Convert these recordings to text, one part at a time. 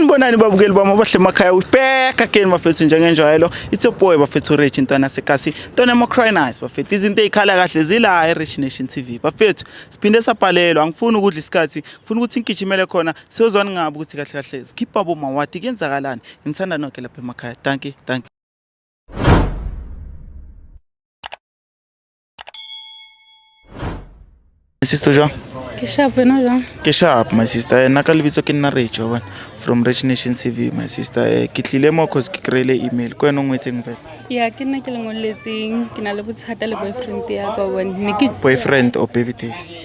sanibonani babukeli bami abahle emakhaya ubheka keni bafethu njengenjwayelo it's your boy bafethu rich intwana sekasi ntwana emocrinise bafethu izinto ey'khala kahle zila e-rich nation tv bafethu siphinde sabhalelwa angifuni ukudla isikhathi ngifuna ukuthi ngigijimele khona siyozwani ngabi ukuthi kahle kahle sikhipha bomawati kuyenzakalani ngithanda noke lapha emakhaya danki danki sister jwang ke sharp wena jwang ke sharp my sister eh, nna ka lebitso ke nna rage wa from rich nation tv my sister eh, ke tlile mo cause ke kry-ile email ko wena o ngwetseng fela ya ke nna ke lengweletseng ke na le bothata le boyfriend ya ka one ne ke boyfriend or baby daddy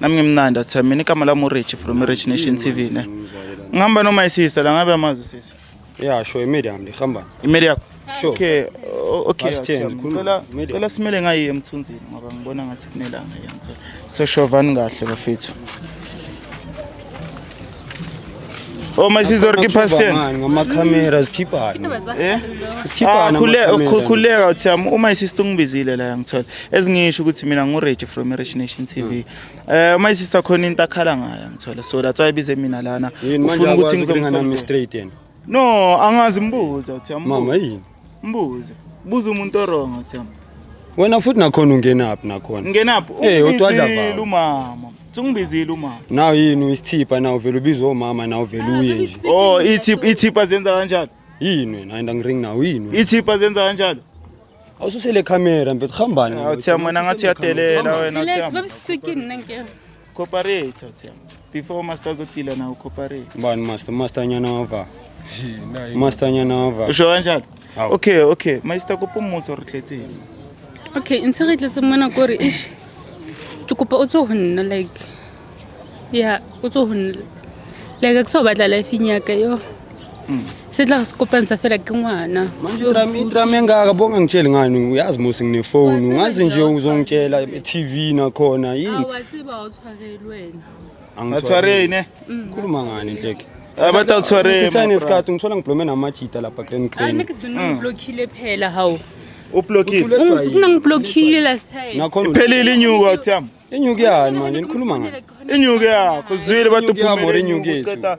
nami ngimnandi athe mina igama lami urich from rich nation tv ne ngihamba noma isisa la ngabe amazi usisi ya sho imeli yami ndihambani imeli yakho Sure. okay o- okay Past tense, Athami. khuluma. Cela- Media. cela simele ngayiye emthunzini ngoba ngibona ngathi kunelanga yantso so shovani kahle bafethu Oh my sister ke past tense. Ngama camera zikhiphani. Eh? Zikhiphani. Ah, khule ukukhuleka oh, uthi um, uma isister ungibizile la ngithola. Ezingisho ukuthi mina ngu Rich from Rich Nation TV. Hmm. Eh uma isister khona into akhala ngayo ngithola. So that's why bize mina lana. Ufuna ukuthi ngizomsona straight yena. No, angazi mbuza uThemba. Mama yini? Mbuza. Buza umuntu orong uThemba. Wena futhi nakhona ungenaphi nakhona? Ngenaphi? Eh, utwadla baba. Umama. Sungibizile umama. Naw yini uyisithipha naw vele ubizwa umama naw vele ah, uye nje. Oh, ithipha ithipha zenza kanjalo. Yini wena ayinda ngiring naw yini. Ithipha zenza kanjalo. Awususele camera mfethu hambani. Awuthi ah, yamona ngathi uyadelela wena uthi. Let's babisithukini nanke. Cooperate awuthi before master uzodila nawo cooperate. Bani master master nyanova. Master nyanova. Usho kanjalo? Okay, okay. Master kopa umutso re tletseng. Okay, ntse re tletseng mona kore ish. Ke kopa o tso ho nna like. Yeah, o tso ho nna. Like ke so batla life ya ka yo. sidla sikopanisa fela ke ngwana manje idrama idrama engaka bonga ngitsheli ngani uyazi musi nginefoni ungazi nje uzongitshela e-tv nakhona yini awatsiba awuthwareli wena Atshwareni, ne? Mm. khuluma ngani nhleke Abantu atshwareni, Isane my isikhathi ngithola ngiblome namajita lapha grand grand anikudona Mm. ngiblokhile phela hawu Ublokile. kunangiblokhile last time nakhona Iphelile inyuka uthiyami. inyuki yani manje nikhuluma ngani Inyuka yakho zwile bathi Inyuki yami or uphumile inyuki inyuka yethu? uqeda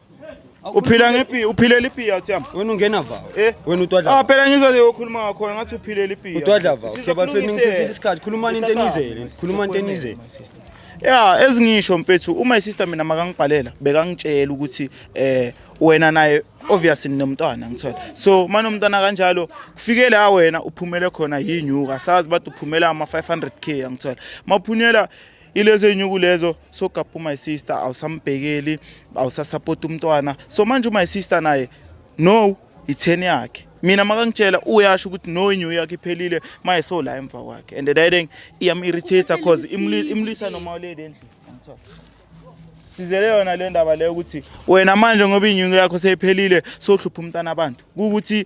uphila ngepi uphilela ipiya uthi yami wena ungena va eh wena utwadla ah phela ngizwa nje ukhuluma ngakhona ngathi uphilela ipiya utwadla va okay bafethu ningithisile isikhathi khulumani into enizele khulumani into enizele ya ezingisho mfethu uma isister mina makangibhalela bekangitshela ukuthi eh wena naye obviously ninomntwana ngithola so manomntwana kanjalo kufike la wena uphumele khona yinyuka sazi bathi uphumela ama 500k ngithola maphunyela ilezo ey'nyuku lezo sogabha umy sister awusambhekeli awusasapoti umntwana so manje umy sister naye no itheni yakhe mina makangitshela uyasho ukuthi no inyu yakhe iphelile maye so la emva kwakhe and that thing iyam-irritator cause imlisa noma lady endlini sizele yona le ndaba leyo ukuthi wena manje ngoba inyungu yakho seyiphelile sohlupha umntana abantu kukuthi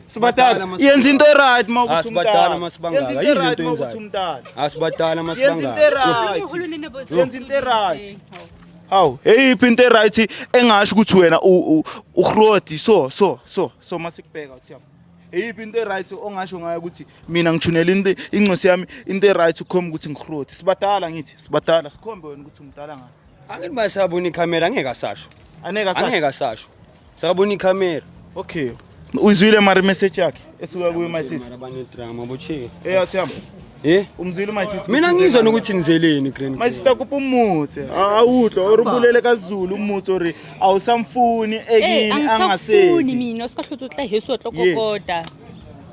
sibadala yenza into right uma ukuthi sibadala uma sibangaka yini into yenzayo asibadala uma sibangaka yenza into right Hawu, hey iphi into right engasho ukuthi wena uhrodi so so so so masikubheka uthi yabo. Eyiphi into right ongasho ngayo ukuthi mina ngithunela into incosi yami into right ukhomba ukuthi ngihrodi. Sibadala ngithi, sibadala sikhombe wena ukuthi umdala ngani. Angithi masabona ikhamera angeke asasho. Aneka sa. Angeke asasho. Sakabona ikhamera. Okay. Uyizwile mari message yakhe esuka kuyo my sister. Abanye drama bocheke. Eh athamba. Eh? Umzwile my sister. Mina ngizwa nokuthi nizeleni grand. My sister kupha umuthi. Awutho or ubulele kaZulu umuthi or awusamfuni ekini angasezi. Angisafuni mina sikahluthu tla hesu otlokokoda.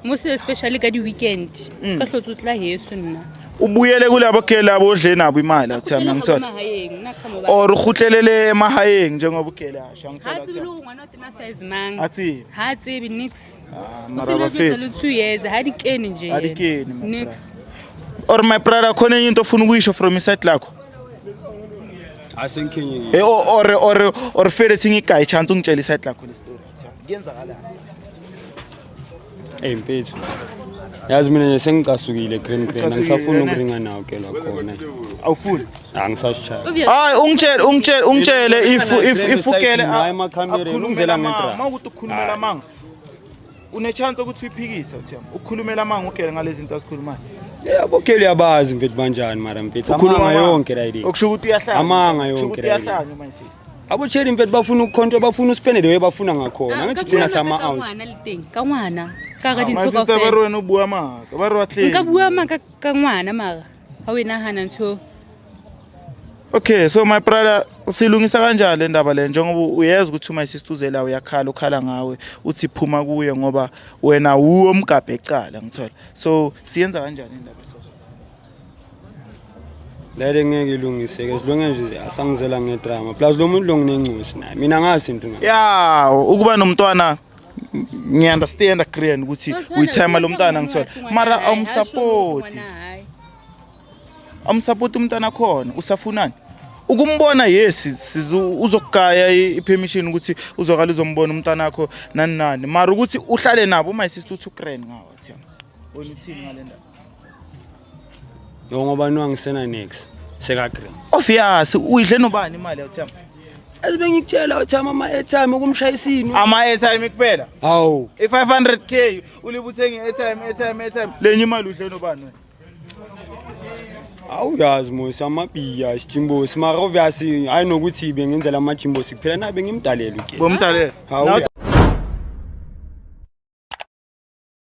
Mose especially ka di-weekend mm. se ka hlotse o tla heso nna o boele kule abokele abo odle nabo imali athi yami angithola or uhutlelele emahayeng njengobukele asho angitholathi ha tsibi nix ah, mara bafethu two years ha dikeni nje ha dikeni nix or my brother khona into ofuna ukuyisho from iside lakho asenkinye eh, or or or fele singigayi chance ungitshela iside lakho le story kuyenzakalani eyi mfethu yazi mina nje sengicasukile green green angisafuni ukuringa nawo ke lakhona awufuni angisashaya hayi ungitshele ungitshele ungitshele if if ifukele hayi emakhamereni ungizela ngedrama uma ukuthi ukhulumela amanga unechance ukuthi uyiphikise uthiyama ukhulumela amanga ugele ngalezi zinto asikhulumayo yabo kele uyabazi mfethu banjani mara mfethu amanga yonke right okusho ukuthi uyahlanya amanga yonke right abotsheli mfethu bafuna ukukhontwa bafuna uspende leyo bafuna ngakhona ngithi thina sama out ka ngwana ka ga dintsho ka ba re wena o bua maka ba re wa tleng nka bua maka ka ngwana mara ha we nahana ntsho Okay so my brother silungisa kanjani le ndaba le njengoba uyazi ukuthi uma isisituzela uyakhala ukhala ngawe uthi phuma kuye ngoba wena wuwo mgabhe ecala ngithola so siyenza kanjani indaba lale ngeke ilungiseke as long as asangizela ngedrama plus lo muntu lo nginencosi naye mina angazi into ngayo ya ukuba nomntwana ngiunderstand agreean ukuthi uyithema lo mntwana ngithola mara awumsapoti awumsapoti umntwana akhona usafunani ukumbona yes uzokugaya i-permission ukuthi uzokala uzombona umntana wakho nani nani mara ukuthi uhlale nabo uma isister uthi ukrand ngawo thina wena uthini ngale ndaba Yo ngoba nwangisena next seka green. Ofiyasi uyidle nobani imali yathemba? Azibe ngikutshela uthama ama airtime ukumshayisa ini? Ama airtime kuphela. Hawu. I 500k ulibuthengi airtime airtime airtime. Lenye imali udle nobani wena? awuyazi mos amabiya isijimbosi mara obviously hayi nokuthi bengenzela amajimbosi kuphela na bengimdalela uke bomdalela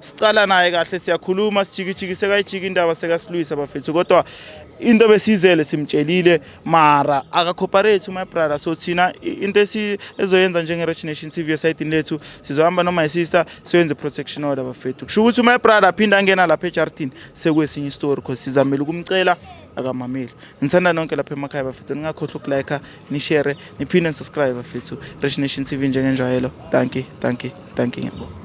Sicala naye kahle siyakhuluma sijikijiki sekayijiki indaba sekasilwisa bafethu kodwa into besizele simtshelile mara akacooperate my brother so thina into ezoyenza njenge-rich nation tv esayidini lethu sizohamba noma isister siyoyenza i-protection order bafethu kusho ukuthi my brother aphinde angena lapha ejardini sekwesinye istory because sizamele ukumcela akamameli ngithanda nonke lapha emakhaya bafethu ningakhohlwa ukulike nishare niphinde nisubscribe fethu Rich Nation TV njengenjwayelo dankie dankie dankie ngiyabonga